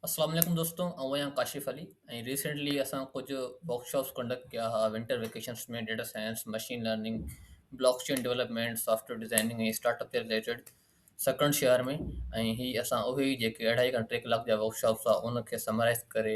السلام عليڪم دوستو آئون آهيان ڪاشف علي ۽ ريسينٽلي اسان ڪجهه ورڪ شاپس ڪنڊڪٽ ڪيا ها winter vacations ۾ data science machine learning block chain development software designing ۽ startup جي ريليٽيڊ سڪرنڊ شهر ۾ ۽ هي اسان اهي ئي جيڪي اڙهائي کان ٽي ڪلاڪ جا ورڪ شاپس هئا ان کي سمرائز ڪري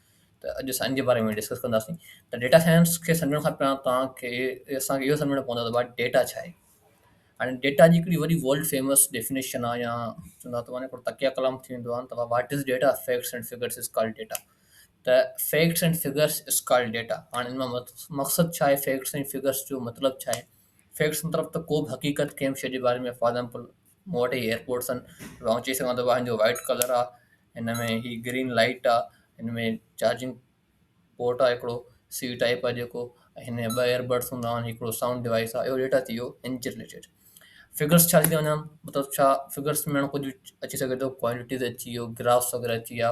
ته اڄ اسان ان جي باري ۾ ڊسڪس ڪنداسين ته ڊيٽا سائنس کي سمجهڻ کان پهريان توهان کي اسان کي اهو سمجهڻو پوندو ته ڀاء ڊيٽا ڇا آهي هاڻي ڊيٽا جي هڪڙي وڏي ورلڊ فيمس ڊيفينيشن آهي يا چوندا ته معنی هڪڙو تڪيه ڪلام ٿي ويندو آهي ته what is data facts and figures is call data ته facts and figures is call data هاڻي ان مان مقصد ڇا آهي فيڪٽس ۽ فگرس جو مطلب ڇا آهي فيڪٽس مطلب ته ڪو به حقيقت ڪنهن به شيء جي باري ۾ فار ايگزامپل مون وٽ هي ايئرپوڊس آهن تون چئي سگهندو آهي جو وائٽ ڪلر آ هن ۾ هي گرين لائٽ آ هن ۾ چارجنگ پورٽ آ هڪڙو سي ٽائپ آ جيڪو ۽ هن ۾ ٻه ايئربڊس هوندا آهن هڪڙو سائونڊ ڊوائيس آ اهو ڊيٽا ٿي ويو هن جي رليٽيڊ فگرس ڇا ٿي چئي وڃان مطلب ڇا فگرس ۾ هاڻي ڪجهه اچي سگهي ٿو ڪوانٽيٽيز اچي ويو گرافس وغيره اچي ويا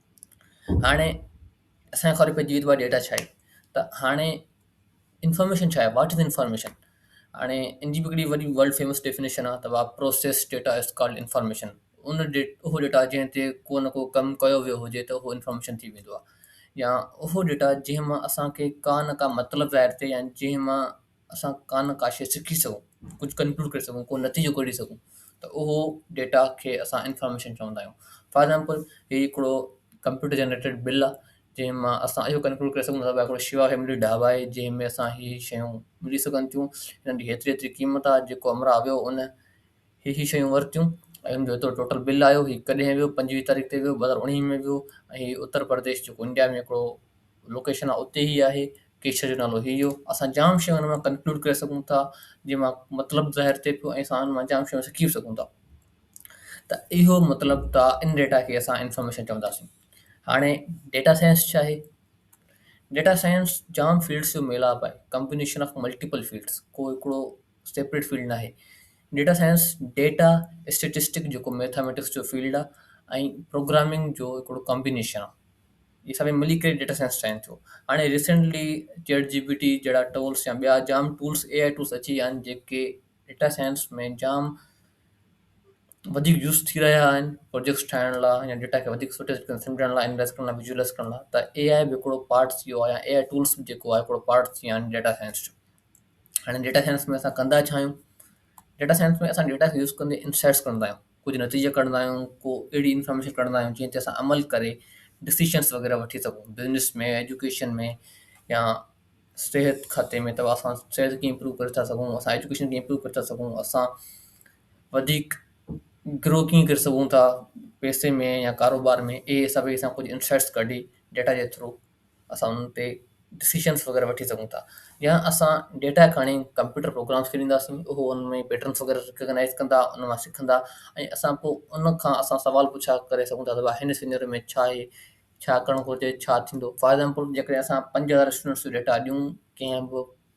هاڻي اسان کي خبر پئجي وئي ته ڊيٽا ڇا آهي ته هاڻي انفارميشن ڇا آهي واٽ از انفارميشن هاڻي ان جي به هڪڙي وڏي ورلڊ فيمس ڊيفنيشن آهي ته process data is called information in the اهو ڊيٽا جنهن تي ڪو نه ڪو ڪم ڪيو ويو هجي ته اهو انفارميشن ٿي ويندو آهي يا اهو ڊيٽا جنهن مان اسان کي ڪا نه ڪا مطلب ظاهر ٿئي يا جنهن مان اسان ڪا نه ڪا شيء سکي سگهون ڪجهه ڪنڪلوڊ ڪري سگهون ڪو نتيجو ڪڍي سگهون ته اهو ڊيٽا کي اسان انفارميشن چوندا آهيون فار ايگزامپل هي هڪڙو ڪمپيوٽر جنريٽيڊ بل آهي جنهن مان اسان اهو ڪنڪلوڊ ڪري سگهون ته هڪڙو شيوا فيملي ڍاب آهي جنهن ۾ اسان هي شيون ملي سگهن ٿيون هن جي هيتري هيتري قيمت آهي جيڪو امراء ويو ان هي هي شيون ورتيون ۽ ان جو ايترو ٽوٽل بل آيو هي ڪڏهن ويو پنجويهه تاريخ تي ويو ٻه هزار اوڻيهه ۾ ويو ۽ هي اتر پرديش جيڪو انڊيا ۾ هڪڙو لوڪيشن آهي اتي هي آهي ڪيشر جو نالو هي هو اسان جام شيون ان مان ڪنڪلوڊ ڪري سگهون ٿا جنهن مان مطلب ظاهر ٿئي ٿو ۽ اسان ان مان جام شيون سکي به سگهون ٿا ته اهو مطلب ته ان ڊيٽا کي اسان انفارميشن چونداسين هاڻي ڊيٽا سائنس ڇا آهي ڊيٽا سائنس جام فيلڊس جو ميلاپ آهي ڪمبينيشن آف ملٽيپل فيلڊس ڪو هڪڙو سيپريٽ فيلڊ ناهي. ڊيٽا سائنس ڊيٽا اسٽيٽسٽڪ جيڪو ميٿاميٽڪس جو فيلڊ آ ۽ پروگرامنگ جو هڪڙو ڪامبينيشن آ. اهي سڀئي ملي ڪري ڊيٽا سائنس ٺاهين ٿيون. هاڻي recently chat G P T جهڙا ٽولس يا ٻيا جام ٽولس اي آء ٽولس اچي ويا آهن جيڪي ڊيٽا سائنس ۾ جام وڌيڪ يوز ٿي رهيا آهن پروجيڪٽس ٺاهڻ لاء يا ڊيٽا کي وڌيڪ سٺي طريقي سان سمجهڻ لاء انالائز ڪرڻ لاء ويجوئلائز ڪرڻ لاء ته اي آء به هڪڙو پارٽ ٿي ويو آ يا اي آء ٽولس به جيڪو آ هڪڙو پارٽ ٿي ويا آهن ڊيٽا سائنس جو. هاڻي ڊيٽا سائنس ۾ اسان ڪندا ڇا آهيون؟ ڊيٽا سائنس ۾ اسان ڊيٽا کي يوز ڪندي انسائٽس کڻندا آهيون ڪجهه نتيجا ڪڍندا آهيون ڪو اهڙي انفارميشن ڪڍندا آهيون جنهن تي اسان عمل ڪري ڊسيشنس وغيره وٺي سگهون بزنس ۾ ايجوڪيشن ۾ يا صحت کاتي ۾ ته اسان صحت کي امپروو ڪري ٿا سگهون اسان ايجوڪيشن کي امپروو ڪري ٿا سگهون اسان وڌيڪ گرو ڪيئن ڪري سگهون ٿا پئسي ۾ يا ڪاروبار ۾ اهي سڀ اسان ڪجهه انسائٽس ڪڍي ڊيٽا جي ٿرو اسان انهن تي ڊسيشنس وغيره وٺي سگهون ٿا يا اسان ڊيٽا کڻي ڪمپيوٽر پروگرامس کي ڏينداسين اهو ان ۾ پيٽرنس وغيره رڪگنائز ڪندا ان مان سکندا ۽ اسان پوء ان کان اسان سوال پڇا ڪري سگهون ٿا ته ڀاء هن سينيرو ۾ ڇا آهي ڇا ڪرڻ گهرجي ڇا ٿيندو فار ايگزامپل جيڪڏهن اسان پنج هزار اسٽوڊنٽس جو ڊيٽا ڏيون ڪنهن به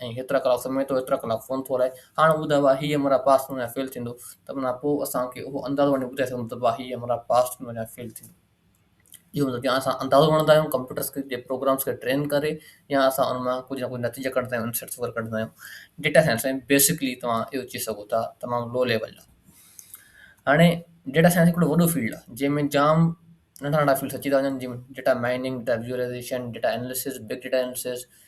۽ هيترا ڪلاڪ سمهي ٿو هيترا ڪلاڪ فون ٿو هلائي هاڻ ٻڌاء ڀا هي عمرا پاس ٿيندو يا فيل ٿيندو ته منا پوء اسان کي اهو اندازو وڃي ٻڌائي سگهندو ته ڀا هي عمرا پاس ٿيندو يا فيل ٿيندو اهو مطلب يا اسان اندازو وڻندا آهيون ڪمپيوٽرس کي جي پروگرامس کي ٽرين ڪري يا اسان ان مان ڪجهه نه ڪجهه نتيجا ڪڍندا آهيون انسرٽس وغيره ڪڍندا آهيون ڊيٽا سائنس ۾ بيسڪلي توهان اهو چئي سگهو ٿا تمام لو ليول جو هاڻي ڊيٽا سائنس هڪڙو وڏو فيلڊ آهي جنهن ۾ جام ننڍا ننڍا فيلڊس اچي ٿا وڃن جن data mining data visualisation data analysis big data analysis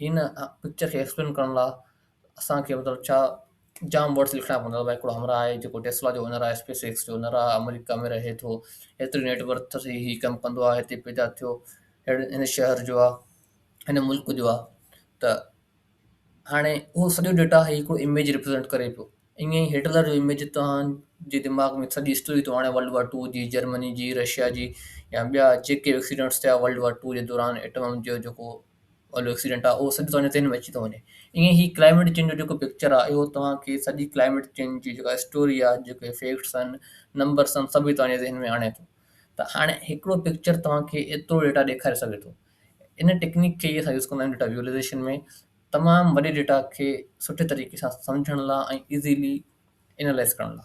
هن پڪچر کي ايڪسپلين ڪرڻ لاء اسان کي مطلب ڇا جام ورڊس لکڻا پوندا ڀاء هڪڙو همراهه آهي جيڪو ٽيسلا جو اونر آهي اسپيس ايڪس جو اونر آهي آمريڪا ۾ رهي ٿو هيتري نيٽ ورٿ اٿس هي ڪم ڪندو آهي هتي پيدا ٿيو هيڙ هن شهر جو آهي هن ملڪ جو آهي ته هاڻي اهو سڄو ڊيٽا هي هڪڙو اميج ريپريزينٽ ڪري پيو ائين ئي هٽلر جو اميج توهان جي دماغ ۾ سڄي هسٽري ٿو آڻي ورلڊ وار ٽو جي جرمني جي رشيا جي يا ٻيا جيڪي به ايڪسيڊنٽس ٿيا ورلڊ وار ٽو جي دوران ايٽم جو جيڪو وارو ايڪسيڊنٽ آهي اهو سڄو توهان جي ذهن ۾ اچي ٿو وڃي ائين ئي هي ڪلائميٽ چينج جو جيڪو پڪچر آهي اهو توهان کي سڄي ڪلائميٽ چينج جي جيڪا هسٽوري آهي جيڪي فيڪٽس آهن نمبرس آهن سڀ ئي توهان جي ذهن ۾ آڻي ٿو ته هاڻي هڪڙو پڪچر توهان کي ايترو ڊيٽا ڏيکاري سگهي ٿو ان ٽيڪنڪ کي اسان يوز ڪندا آهيون ڊيٽا ويزولايزيشن ۾ تمام وڏي ڊيٽا کي سٺي طريقي سان سمجهڻ لا۽ ايزيلي اينالائز ڪرڻ لا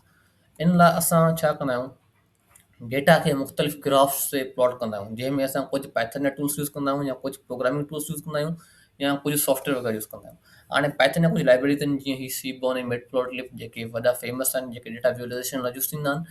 ان لا اسان ڇا ڪندا آهيون ڊيٽا کي مختلف گرافس تي پلاٽ ڪندا آهيون جنهن ۾ اسان ڪجهه پائٿن جا ٽولس يوز ڪندا آهيون يا ڪجهه پروگرامنگ ٽولس يوز ڪندا آهيون يا ڪجهه سافٽويئر وغيره يوز ڪندا آهيون هاڻي پائٿن جا ڪجهه لائبريريز آهن جيئن هي Seaborn ۽ Matplotlib جيڪي وڏا فيمس آهن جيڪي ڊيٽا ويزولايزيشن لا يوز ٿيندا آهن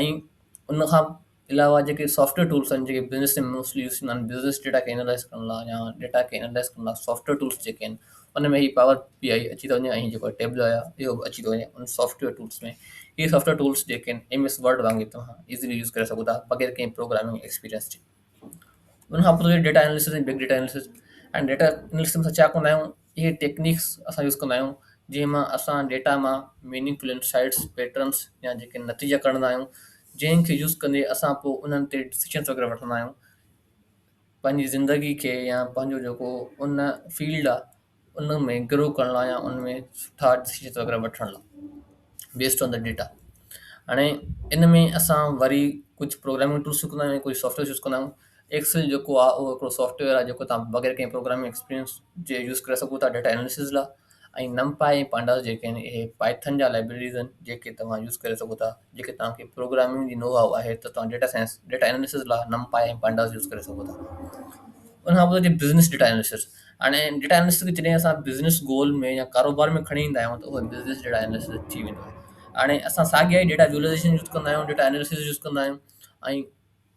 ۽ ان کان علاوه جيڪي سافٽويئر ٽولس آهن جيڪي بزنس ۾ موسٽلي يوز ٿيندا آهن بزنس ڊيٽا کي اينالائز ڪرڻ لاء يا ڊيٽا کي اينالائز ڪرڻ لاء سافٽويئر ٽولس جيڪي آهن ان ۾ هي پاور پي آئي اچي ٿو وڃي ۽ جيڪو ٽيبلو آهي اهو به اچي ٿو وڃي ان سافٽويئر ٽولس ۾ هي سافٽويئر ٽولس جيڪي آهن ايم ايس ورڊ وانگي توهان ايزلي يوز ڪري سگهو ٿا بغير ڪنهن پروگرامنگ ايڪسپيرينس جي ان کان پوء data analysis ۽ big data analysis ۽ data analysis ۾ ڇا ڪندا آهيون اهي ٽيڪنيڪس اسان يوز ڪندا آهيون جنهن مان اسان ڊيٽا مان ميننگفل انسائٽس، پيٽرنس يا جيڪي نتيجا ڪڍندا آهيون جنهن کي يوز ڪندي اسان پوء انهن تي ڊسيشنس وغيره وٺندا آهيون پنهنجي زندگي کي يا پنهنجو جيڪو ان فيلڊ آهي ان ۾ گرو ڪرڻ لاء يا ان ۾ سٺا ڊسيشنس وغيره وٺڻ لاء بيسڊ آن دا ڊيٽا هاڻي ان ۾ اسان وري ڪجهه پروگرامنگ ٽولس يوز ڪندا آهيون ڪجهه سافٽويئرس يوز ڪندا آهيون ايڪسل جيڪو آهي اهو هڪڙو سافٽ ويئر آهي جيڪو توهان بغير ڪنهن پروگرامنگ ايڪسپيرينس جي يوز ڪري سگهو ٿا ڊيٽا اناليسز لاء ۽ نم پائي ۽ پانڊاس جيڪي آهن اهي پائٿن جا لائبريريز آهن جيڪي توهان يوز ڪري سگهو ٿا جيڪي توهان کي پروگرامنگ جي نو هاء آهي ته توهان ڊيٽا سائنس ڊيٽا اناليسز لاء نم پائي ۽ پانڊاس يوز ڪري سگهو ٿا ان کان پوء بزنس ڊيٽا اناليسز هاڻي ڊيٽا اناليسز کي جڏهن اسان بزنس گول ۾ يا ڪاروبار ۾ کڻي ايندا آهيون ته اهو بزنس ڊيٽا اناليسز ٿي ويندو آهي هاڻي اسان ساڳيا ئي ڊيٽا ويزولايزيشن يوز ڪندا آهيون ڊيٽا اناليسز يوز ڪندا آهيون ۽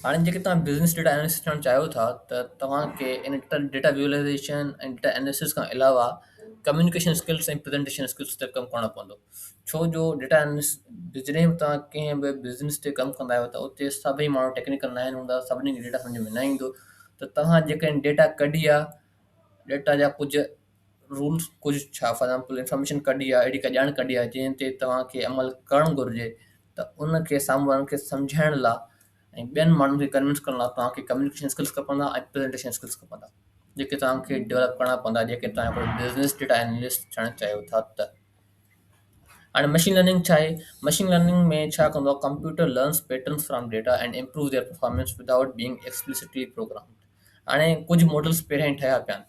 هاڻي جيڪڏهن توهان بزنس ڊيٽا اينالسٽ ٺهڻ چاهيو ٿا ته توهان کي ان ڊيٽا ويزولايزيشن ۽ ڊيٽا اينالسز کان علاوه ڪميونيڪيشن اسڪلس ۽ پريزنٽيشن اسڪلس تي ڪم ڪرڻو پوندو ڇو جو ڊيٽا اينالسٽ به جڏهن به توهان ڪنهن به بزنس تي ڪم ڪندا آهيو ته اتي سڀئي ماڻهو ٽيڪنيڪل ناهن هوندا سڀني کي ڊيٽا سمجهه ۾ نه ايندو ته توهان جيڪڏهن ڊيٽا ڪڍي آ ڊيٽا جا ڪجهه رولز ڪجهه ڇا فار ايگزامپل انفارميشن ڪڍي آ اهڙي ڪا ڄاڻ ڪڍي آ جنهن تي توهان کي عمل ڪرڻ گهرجي ته ان کي سامهون وارن کي سمجهائڻ لا۽ ٻين ماڻهن کي ڪنوينس ڪرڻ لا توهان کي ڪميونيڪيشن اسڪلس کپندا ۽ پريزنٽيشن اسڪلس کپندا جيڪي توهان کي ڊيولپ ڪرڻا پوندا جيڪي توهان هڪڙو بزنس ڊيٽا انالسٽ ٿيڻ چاهيو ٿا ته هاڻي مشين لرننگ ڇا آهي مشين لرننگ ۾ ڇا ڪندو آهي computer learns patterns from data and improve their performance without being explicitly programmed هاڻي ڪجهه ماڊلس پهريان ئي ٺهيا پيا آهن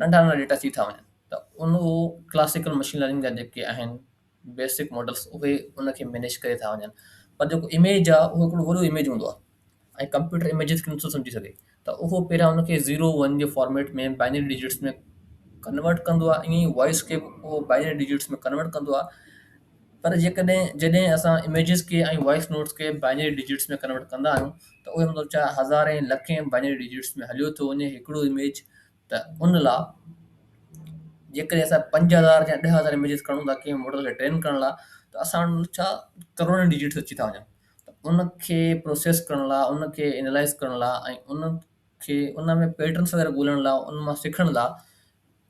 ننڍا ننڍا ڊيٽا ٿي ٿا وڃن ته انهو ڪلاسيڪل مشين لرننگ جا جيڪي آهن بيسڪ ماڊلز اهي ان کي مينيج ڪري ٿا وڃن پر جيڪو اميج آهي اهو هڪڙو وڏو اميج هوندو آهي ۽ ڪمپيوٽر اميجز کي نٿو سمجهي سگهي ته اهو پهريان ان کي زيرو ون جي فارميٽ ۾ بائنري ڊجٽس ۾ ڪنورٽ ڪندو آهي ائين ئي وائس کي به اهو بائنري ڊجٽس ۾ ڪنورٽ ڪندو آهي پر جيڪڏهن جڏهن اسان اميجز کي ۽ وائيس نوٽس کي بائنري ڊجٽس ۾ ڪنورٽ ڪندا آهيون ته اهو مطلب ڇا هزارين لکين بائنري ڊجٽس ۾ هليو ٿو وڃي هڪڙو اميج ته ان لا جيڪڏهن اسان 5000 يا 10000 اميجز کڻون ٿا ڪنهن ماڊل کي ٽرين ڪرڻ لا ته اسان وٽ ڇا ڪروڙين ڊجٽس اچي ٿا وڃن ته ان کي پروسيس ڪرڻ لا ان کي انالائز ڪرڻ لا ۽ ان کي ان ۾ پيٽرنس وغيره ڳولڻ لا ان مان سکڻ لا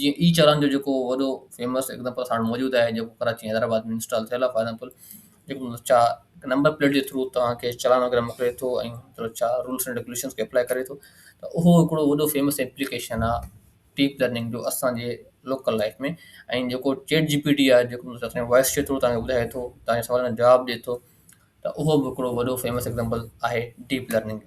جيئن اي چالان جو جيڪو وڏو فيمس ايگزامپل اسان وٽ موجود آهي جيڪو ڪراچي ۽ حيدرآباد ۾ انسٽال ٿيل آهي فار ايگزامپل جيڪو مطلب چا نمبر پليٽ جي ٿرو توهان کي چالان وغيره موڪلي ٿو ۽ مطلب چا رولس اينڊ ريگوليشنس کي اپلائي ڪري ٿو ته اهو هڪڙو وڏو فيمس ايپليڪيشن آهي ڊيپ لرننگ جو اسانجي لوڪل لائف ۾ ۽ جيڪو چيٽ جي پي ٽي آهي جيڪو مطلب اسانجي وائس چيت ٿرو توهان کي ٻڌائي ٿو توهان جي سوالن جا جواب ڏئي ٿو ته اهو به هڪڙو وڏو فيمس ايگزامپل آهي ڊيپ لرننگ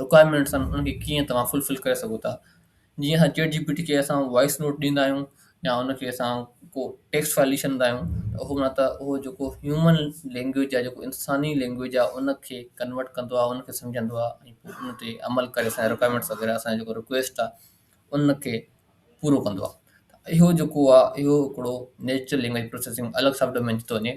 رڪوائرمينٽس آهن انهن کي ڪيئن توهان فلفل ڪري سگهو ٿا جيئن اسان چيٽ جي پي ٽي کي اسان وائس نوٽ ڏيندا آهيون يا ان کي اسان ڪو ٽيڪسٽ فائل لکي ڇڏيندا آهيون ته اهو نه ته اهو جيڪو هيومن لينگويج آهي جيڪو انساني لينگويج آهي ان کي ڪنورٽ ڪندو آهي ان کي سمجهندو آهي ۽ پوء ان تي عمل ڪري اسان جا رڪوائرمينٽس وغيره اسان جا جيڪو رڪويسٽ آهي ان کي پورو ڪندو آهي اهو جيڪو آهي اهو هڪڙو نيچرل لينگويج پروسيسنگ الڳ سب ڊومين ٿي ٿو وڃي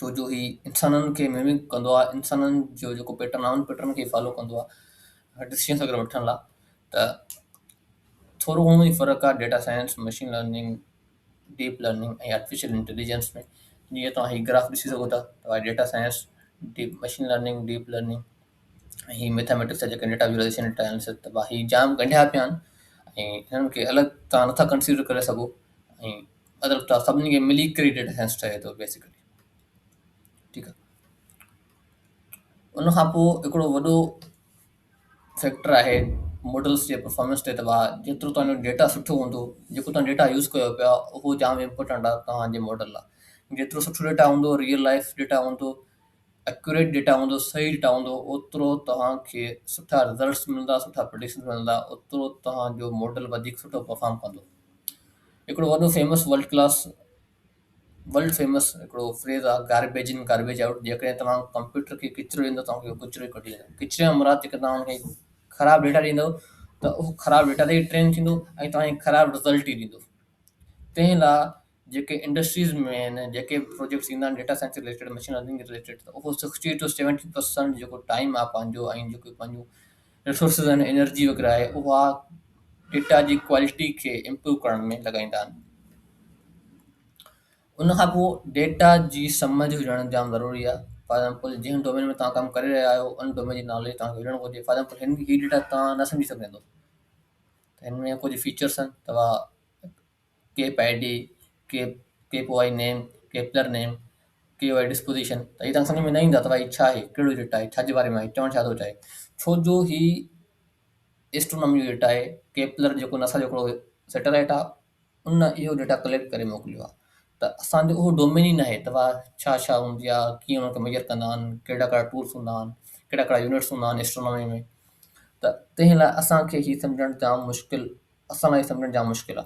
ڇو جو هي انسانن کي ميمڪ ڪندو آهي انسانن جو جيڪو پيٽرن آهي ان پيٽرن کي فالو ڪندو آهي ڊسيزنس اگر وٺڻ لا ته ٿورو گهڻو ئي فرق آهي data science machine learning deep learning ۽ artificial intelligence ۾ جيئن توهان هي گراف ڏسي سگهو ٿا ته آهي data science deep machine learning deep learning ۽ هي ميٿامیٽڪس جا جيڪي ڊيٽا ويزولائزيشن ڊيٽا اناليسس ته هي جام ڳنڍيا پيا آهن ۽ هنن کي الڳ تان نٿا ڪنسيڊر ڪري سگهو ۽ مطلب ته سڀني کي ملي ڪري ڊيٽا سائنس ٺهي ٿو بيسڪلي ٺيڪ آهي ان کان پوء هڪڙو وڏو فيڪٽر آهي ماڊلس جي پرفارمنس تي تباهه جيترو توهان جو ڊيٽا سٺو هوندو جيڪو توهان ڊيٽا يوز ڪيو پيا اهو جام امپورٽنٽ آهي توهان جي ماڊل لاء جيترو سٺو ڊيٽا هوندو ريئل لائف ڊيٽا هوندو ايڪوريٽ ڊيٽا هوندو صحيح ڊيٽا هوندو اوترو توهان کي سٺا رزلٽس ملندا سٺا پريڊڪشنس ملندا اوترو توهان جو ماڊل وڌيڪ سٺو پرفارم ڪندو هڪڙو وڏو famous world class world famous هڪڙو فريز آهي گاربيج ان گاربيج آئوٽ جيڪڏهن توهان ڪمپيوٽر کي ڪچرو ڏيندو توهان کي ڪچرو ئي ڪڍي ڏيندو ڪچري يا مراد جيڪڏهن توهان کي خراب ڊيٽا ڏيندو ته اهو خراب ڊيٽا تي ٽرين ٿيندو ۽ توهان کي خراب رزلٽ ئي ڏيندو تنهن لاء جيڪي انڊسٽريز ۾ آهن جيڪي به پروجيڪٽس ايندا آهن data science related machine learning جي رليٽيڊ ته اهو سڪسٽي ٽو سيونٽي پرسنٽ جيڪو ٽائيم آهي پنهنجو ۽ جيڪو پنهنجو رسورسز آهن انرجي وغيره آهي اها ڊيٽا جي ڪوالٽي کي امپروو ڪرڻ ۾ لڳائيندا آهن ان کان پوء ڊيٽا جي سمجھ هجڻ جام ضروري آهي فار ايگزامپل جنهن ڊومين ۾ توهان ڪم ڪري رهيا آهيو ان ڊومين جي ناليج توهان کي هجڻ گهرجي فار ايگزامپل هن هي ڊيٽا توهان نه سمجھي سگهندو هن ۾ ڪجهه فيچرس آهن توهان Kep I D, Kep, Kep O I name, Kepler name, K O I disposition ته هي توهان کي سمجهه ۾ نه ايندا ته ڀائي ڇا آهي، ڪهڙو يونٽ آهي، ڇا جي باري ۾ آهي، چوڻ ڇا ٿو چاهي. ڇو جو هي ايسٽرونامي جو ڊيٽا آهي، ڪيپلر جيڪو ناسا جو هڪڙو سيٽلائيٽ آهي ان اهو ڊيٽا ڪليڪٽ ڪري موڪليو آهي ته اسان جو اهو ڊومين ئي ناهي ته واهه ڇا ڇا هوندي آهي، ڪيئن ان کي ميجر ڪندا آهن، ڪهڙا ڪهڙا ٽولس هوندا آهن، ڪهڙا ڪهڙا يونٽس هوندا آهن ايسٽرونامي ۾ ته تنهن لاء اسان کي هي سمجهڻ جام مشڪل اسان لاء سمجهڻ جام مشڪل آ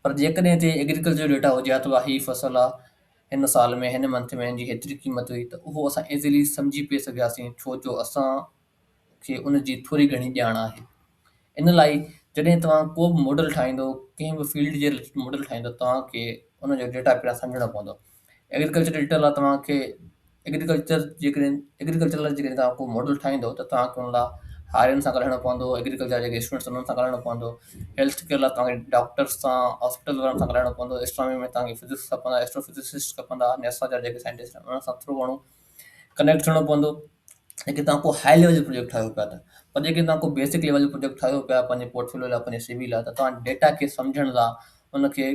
پر جيڪڏهن هتي ايگريڪلچر جو ڊيٽا هجي ها ته ڀا هي فصل آ هن سال ۾ هن منٿ ۾ هن جي هيتري قيمت هئي ته اهو اسان ايزلي سمجهي پئي سگهياسين ڇو جو اسان کي ان جي ٿوري گهڻي ڄاڻ آهي ان لاء جڏهن توهان ڪو به ماڊل ٺاهيندو ڪنهن به فيلڊ جي رليٽيڊ ماڊل ٺاهيندو توهان کي ان جو ڊيٽا پهريان سمجهڻو پوندو ايگريڪلچر ايڊيٽر لاء توهان کي ايگريڪلچر جيڪڏهن ايگريڪلچر لاء جيڪڏهن توهان ڪو ماڊل ٺاهيندو ته توهان کي ان لاء هارين سان ڳالهائڻو پوندو ايگريڪلچر جا جيڪي اسٽوڊنٽس آهن انهن سان ڳالهائڻو پوندو هيلٿ ڪيئر لاء توهان کي ڊاڪٽرس سان هاسپيٽل وارن سان ڳالهائڻو پوندو اسٽرامي ۾ توهان کي فزڪس کپندا ايسٽرو فزسسٽ کپندا نيسا جا جيڪي سائنٽسٽ آهن انهن سان ٿورو گهڻو ڪنيڪٽ ٿيڻو پوندو جيڪي توهان کو هاء ليول جو پروجيڪٽ ٺاهيو پيا ته پر جيڪي توهان ڪو بيسڪ ليول جو پروجيڪٽ ٺاهيو پيا پنهنجي پورٽفوليو لاء پنهنجي سي وي لاء ته توهان ڊيٽا کي سمجهڻ لاء ان کي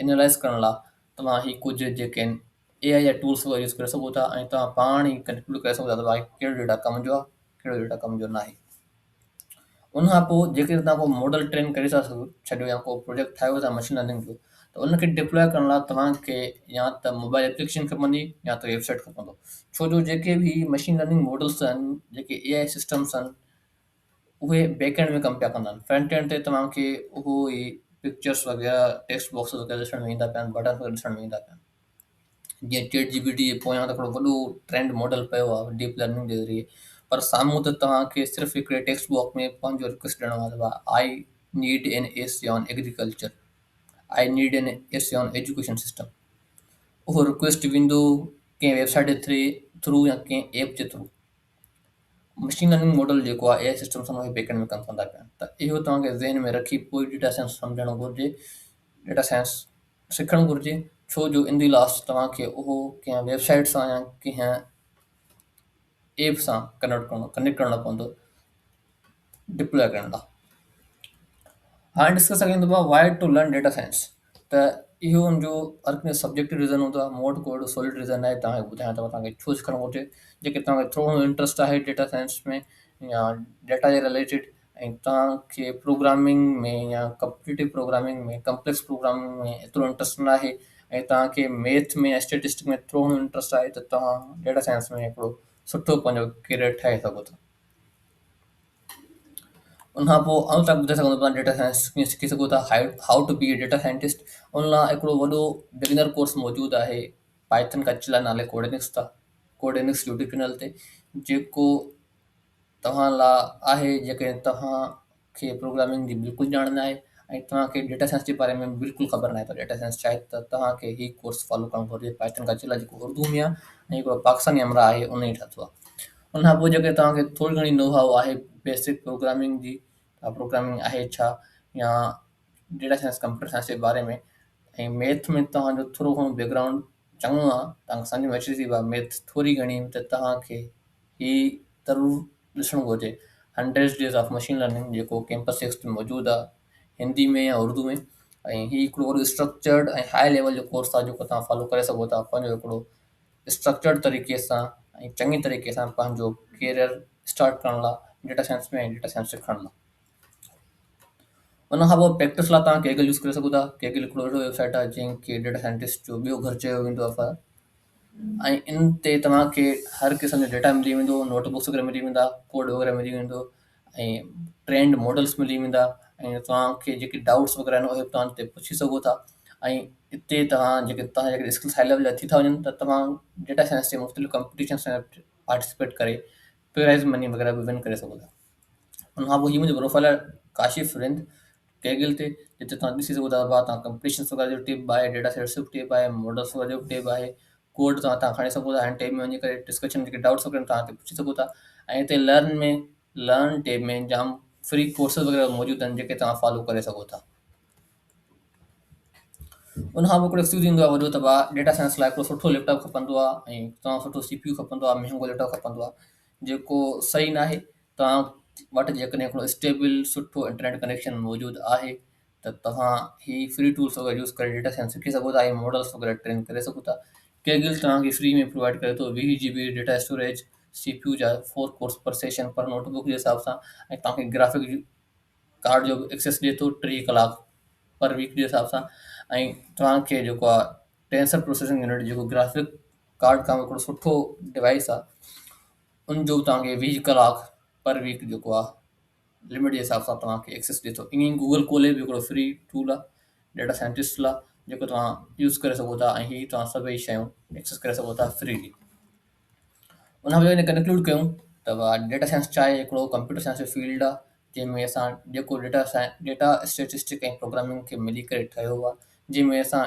انالائز ڪرڻ لاء توهان هي ڪجهه جيڪن اي آء جا ٽولس وغيره يوز ڪري سگهو ٿا ۽ توهان پاڻ ئي ڪنڪلوڊ ڪري سگهو ٿا ته واقعي ڪهڙو ڊيٽا ڪم جو آهي ڪهڙو ڊيٽا ڪم جو ناهي ان کان پوء جيڪڏهن توهان ڪو ماڊل ٽرين ڪري ٿا سگهو ڇڏيو يا ڪو پروجيڪٽ ٺاهيو ٿا مشين لرننگ جو ته ان کي ڊپلوء ڪرڻ لاء توهان کي يا ته موبائل ايپليڪيشن کپندي يا ته ويب سائيٽ کپندو ڇو جو جيڪي به مشين لرننگ ماڊلس آهن جيڪي اي آء سسٽمس آهن اهي بيڪ اينڊ ۾ ڪم پيا ڪندا آهن فرنٽ اينڊ تي توهان کي اهو ئي پڪچرس وغيره ٽيڪسٽ باڪسز وغيره ڏسڻ ۾ ايندا پيا آهن بٽنس وغيره ڏسڻ ۾ ايندا پيا آهن جيئن چيٽ جي پي ٽي جي پويان ته هڪڙو وڏو ٽرينڊ ماڊل پيو آهي ڊيپ لرننگ جي ذريعي پر سامهون ته توهان کي صرف هڪڙي ٽيڪسٽ باڪس ۾ پنهنجو رڪويسٽ ڏيڻو آهي ته I need N A C on agriculture I need N A C on education system اهو رڪويسٽ ويندو ڪنهن ويب سائيٽ جي ٿرو يا ڪنهن ايپ جي ٿرو مشين لرننگ ماڊل جيڪو آء اي سسٽم سان اهي بيڪنڊ ۾ ڪم ڪندا پيا ته اهو توهان کي ذهن ۾ رکي پوء ڊيٽا سائنس سمجهڻ گهرجي ڊيٽا سائنس سکڻ گهرجي ڇو جو ان دي لاسٽ توهان کي اهو ڪنهن ويب سائيٽ سان يا ڪنهن ايپ سان ڪنيڪٽ ڪرڻو ڪنيڪٽ ڪرڻو پوندو ڊپلوء ڪرڻ لاء هاڻي ڏسي سگهندو آهي why to learn data science ته اهو ان جو هر ڪنهن جو سبجيڪٽو ريزن هوندو آهي مون وٽ ڪو اهڙو سولڊ ريزن ناهي توهان کي ٻڌايان ته مون کي توهان کي ڇو سکڻ گهرجي جيڪڏهن توهان کي ٿورو گهڻو انٽرسٽ آهي ڊيٽا سائنس ۾ يا ڊيٽا جي رليٽيڊ ۽ توهان کي پروگرامنگ ۾ يا ڪمپيٽيٽو پروگرامنگ ۾ ڪمپليڪس پروگرامنگ ۾ ايترو انٽرسٽ ناهي ۽ توهان کي ميٿ ۾ يا اسٽيٽسٽڪ ۾ ٿورو گهڻو انٽرسٽ آهي ته توهان ڊيٽا سائنس ۾ هڪڙو سٺو پنهنجو ڪيريئر ٺاهي سگهو ٿا ان کان پوء آئون تان ٻڌائي سگهندو ته توهان ڊيٽا سائنس ڪيئن سکي سگهو ٿا How to be a data scientist ان لاء هڪڙو وڏو بگنر ڪورس موجود آهي پائٿن ڪچ لاء نالي ڪوڊينڪس تان ڪوڊينڪس يوٽيوب چينل تي جيڪو توهان لاء آهي جيڪڏهن توهان کي پروگرامنگ جي بلڪل ڄاڻ ناهي ۽ توهان کي ڊيٽا سائنس جي باري ۾ به بلڪل خبر ناهي ته ڊيٽا سائنس ڇاهي ته توهان کي هي ڪورس فالو ڪرڻ گهرجي پائٿن کان چلا جيڪو اردو ۾ آهي ۽ هڪڙو پاڪستاني همراهه آهي ان ئي ٺاهيو آهي ان کان پوء جيڪڏهن توهان کي ٿوري گهڻي نو هائو آهي بيسڪ پروگرامنگ جي ته پروگرامنگ آهي ڇا يا ڊيٽا سائنس ڪمپيوٽر سائنس جي باري ۾ ۽ ميٿ ۾ توهان جو ٿورو گهڻو بيڪ گرائونڊ چڱو آ، توهان کي سمجهه ۾ اچي ٿي اها ميٿ ٿوري گهڻي ته توهان کي هي ضرور ڏسڻ گهرجي Hundreds Days of Machine Learning جيڪو ڪيمپس سڪس تي موجود آ هندي ۾ يا اردو ۾ ۽ هي هڪڙو وڏو اسٽرڪچرڊ ۽ هاء ليول جو ڪورس آ جيڪو توهان فالو ڪري سگهو ٿا پنهنجو هڪڙو اسٽرڪچرڊ طريقي سان ۽ چڱي طريقي سان پنهنجو ڪيريئر اسٽارٽ ڪرڻ لا ڊيٽا سائنس ۾ ۽ ڊيٽا سائنس سکڻ لا. ان کان پوء پريڪٽس لاء توهان ڪيگل يوز ڪري سگهو ٿا ڪيگل هڪڙو اهڙو ويب سائيٽ آهي جنهن کي ڊيٽا سائنٽسٽ جو ٻيو گهر چيو ويندو آهي ۽ ان تي توهان کي هر قسم جو ڊيٽا ملي ويندو نوٽ بڪس وغيره ملي ويندا ڪوڊ وغيره ملي ويندو ۽ ٽرينڊ ماڊلس ملي ويندا ۽ توهان کي جيڪي ڊائوٽس وغيره آهن اهي توهان هتي پڇي سگهو ٿا ۽ هتي توهان جيڪي توهان جيڪي اسڪلس هاء ليول جا ٿي ٿا وڃن ته توهان ڊيٽا سائنس جي مختلف ڪمپٽيشنس ۾ پارٽيسپيٽ ڪري پرائز مني وغيره به ون ڪري سگهو ٿا ان کان پوء هي منهنجو پروفائيل آهي ڪاشف رند ڪيگل تي جتي توهان ڏسي سگهو ٿا ڀا توهان ڪمپليشنس وغيره جو ٽيب آهي ڊيٽا سيٽس جو ٽيب آهي ماڊلس وغيره جو ٽيب آهي ڪوڊ توهان هتان کڻي سگهو ٿا هن ٽيب ۾ وڃي ڪري ڊسڪشن جيڪي ڊائوٽس وغيره توهان هتي پڇي سگهو ٿا ۽ هتي لرن ۾ لرن ٽيب ۾ جام فري ڪورسز وغيره موجود آهن جيڪي توهان فالو ڪري سگهو ٿا ان کان پوء هڪڙو ايڪسڪيوز ٿيندو آهي وڏو ته ڀا ڊيٽا سائنس لاء هڪڙو سٺو ليپٽاپ کپندو آهي ۽ تمام سٺو سي پي يو کپندو آهي مهنگو ليپٽاپ کپندو آهي جيڪو صحيح ناهي توهان وٽ جيڪڏهن هڪڙو اسٽيبل سٺو انٽرنيٽ ڪنيڪشن موجود آهي ته توهان هي فري ٽولز وغيره يوز ڪري ڊيٽا سائنس سکي سگهو ٿا ۽ ماڊلز وغيره ٽرين ڪري سگهو ٿا ڪيگل توهان کي فري ۾ پرووائيڊ ڪري ٿو ويهه G B data storage C P U جا فور ڪورس پر سيشن پر نوٽ بڪ جي حساب سان ۽ توهان کي گرافڪ ڪارڊ جو به ايڪسيس ڏي ٿو ٽيهه ڪلاڪ پر ويڪ جي حساب سان ۽ توهان کي جيڪو آهي ٽينسر پروسيسنگ يونٽ جيڪو گرافڪ ڪارڊ ڪم هڪڙو سٺو ڊوائيس آ ان جو توهان کي ويهه ڪلاڪ پر ويڪ جيڪو آ لمٽ جي حساب سان توهان کي ايڪسيس ڏي ٿو ائين ئي گوگل ڪولي به هڪڙو فري ٽول آ ڊيٽا سائنٽسٽ لا جيڪو توهان يوز ڪري سگهو ٿا ۽ هي توهان سڀئي شيون ايڪسيس ڪري سگهو ٿا فريلي ان کان ان ڪنڪلوڊ ڪيون ته ڊيٽا سائنس چاهي هڪڙو ڪمپيوٽر سائنس جو فيلڊ آ جنهن ۾ اسان جيڪو data science data statistic ۽ programming کي ملي ڪري ٺهيو آ جنهن ۾ اسان